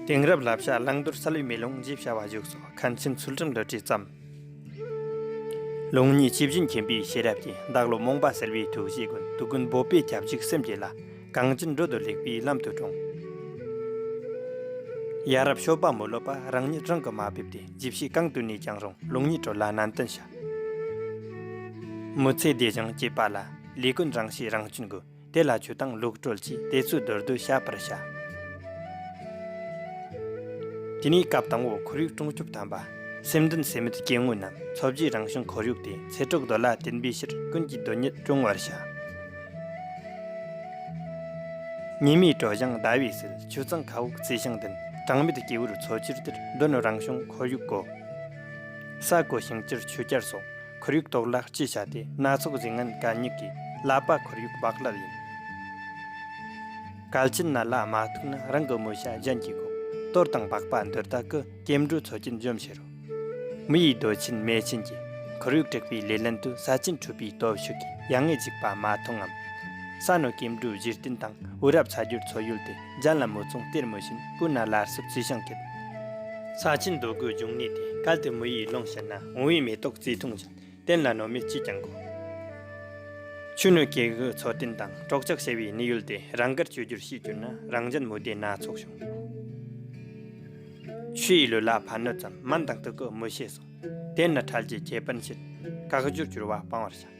དེང་རབས་ལ་བྱ་གླང་དོར་ས་ལུའི་མེ་ལོང་བཞི་བྱ་བ་བཞུགས་སོ་ཁམས་ཆེན་ཚུལ་ཁྲིམས་རལ་གྲི་བརྩམས། ལུང་གཉིས་ཆིབས་བཞིན་མཁྱེན་པའི་ཤེས་རབ་ཀྱིས་བདག་བློ་རྨོངས་པ་སེལ་བའི་ཐུགས་བཞེད་ཀུན་ཏུ་ཀུན་འབོད་པས་ཁྱབ་འཇུག་སེམས་བསྐྱེད་ལ་གང་ཅི་འགྲོ་འདུལ་ལེགས་པའི་ལམ་དུ་དྲོངས། ཡ་རབས་ཤོ་པ་མོ་བློ་པ་རང་ཉིད་རང་གིས་མ་ཕེབས་ཏེ་རྗེ་བཤེས་གང་དུ་ནས་ཀྱང་རུང་ལུང་གཉིས་གྲོལ་ལ་ནན་ཏན་བྱ། དམོད་ཚེ་བདེ་ཞིང་སྐྱེས་པ་ལ། ལས་ཀུན་རང་བྱས་རང་སྐྱོན་དགོས། དེ་ལ་ཆུ་དང་ལུག་བཀྲོལ་གྱིས་དེ་ཚོའི་རྡོལ་རྡོལ་བྱ་བར་བྱ། དེ་ནས་སྐབས་དང་བོ་ཁོར་ཡུག་སྲུང་སྐྱོབ་དམ་པ། སེམས་འདུན་སེམས་མེད་སྐྱེ་དངོས་རྣམས་འཚོ་བཞེས་རང་བྱུང་ཁོར་ཡུག་སྟེ་ཚེ་གྲོགས་རྡོ་ལ་བརྟེན་པའི་ཕྱིར་ཀུན་གྱིས་རྡོ་ཉིད་སྐྱོང་བར་བྱ། ཉི་མའི་དྲོ་བཞིན་ཟླ་བའི་ཟིལ་ཆུ་གཙང་ཁ་དབུགས་རྩི་ཤིང་ལྡན་གྲངས་མེད་སྐྱེ་བོར་འཚོ་ཕྱིར་དེར་འདོད་ནོ་རང་བྱུང་ཁོར་ཡུག་གོ། ས་རྐོ་ཞིང་བསྐྱུར་ཆུ་སྐྱར་སོགས་ཁོར་ཡུག་གཏོར་བརླག་ཅི་བྱ་སྟེ་སྣ་ཚོགས་གཟིགས་ངན་གད་སྙིགས་ཀྱིས་བརླབས་པ་ཁོར་ཡུག་བག་ལར་ཡིན། གལ་ཆེན་ན་ལ་མ་ཐུག་ན་རང་གི་མོ་ཤ་གཞན་གྱིས་བགོ། གཏོར་དང་པགས་པ་འདོད་ད་ཀི་སྐྱེ་འགྲོའི་ཚོ་ཆེན་འཇོམས་བྱེད་རོ། མི་ཡི་རྡོ་ཆེན་མེ་ཆེན་གྱིས་ཁོར་ཡུག་དྲེགས་པའི་ལེ་ལན་དུ་ས་ཆེན་འཁྲུད་པའི་སྟོབས་ཤུགས་ཀྱིས་ཡ་ངས་འཇིགས་པ་མ་མཐོང་ངམ། ས་ནོར་སྐྱེ་འགྲོའི་གཞི་རྟེན་དང་བུ་རབས་ཚ་རྒྱུད་འཚོ་ཡུལ་ཏེ། ལྗང་ལ་མོ་མཚུངས་གཏེར་མོ་བཞིན་སྤུན་ནག་ལར་སུབ་ཚུལ་བྱང་སྐད། ས་ཆེན་རྡོ་རྒོད་འབྱུང་གནས་དེ་གལ་ཏེ་མི་ཡིས་བླངས་ཤེ་ན་འོང་བའི་མེ་ཏོག་རྩི་ཐུང་བཞིན་བསྟན་ལ་ནོར་མེད་ཅིས་ཀྱང་གོ། ཆུ་སྣོད་སྐྱེ་དགུའི་འཚོ་རྟེན་དང་གྲོགས་ཆགས་ཞེས་པའི་གནས་ཡུལ་དེ་རང་དགར་བཅོས་བསྒྱུར་བྱེད་གྱུར་ན་རང་ལྗང་མོ་དེ་སྣ་ཚོགས་བྱུང། ཆུ་ཡི་ལུས་ལ་ཕ་སྣོད་ཙམ་མ་འདང་སྟེ་གོ་མི་ཤེས་སོ། དེས་ན་ཁྲལ་གྱི་ཁྱད་པར་འཕྱེད། བཀག་སྦྱོར་བསྒྱུར་བ་སྤང་བར་བྱ།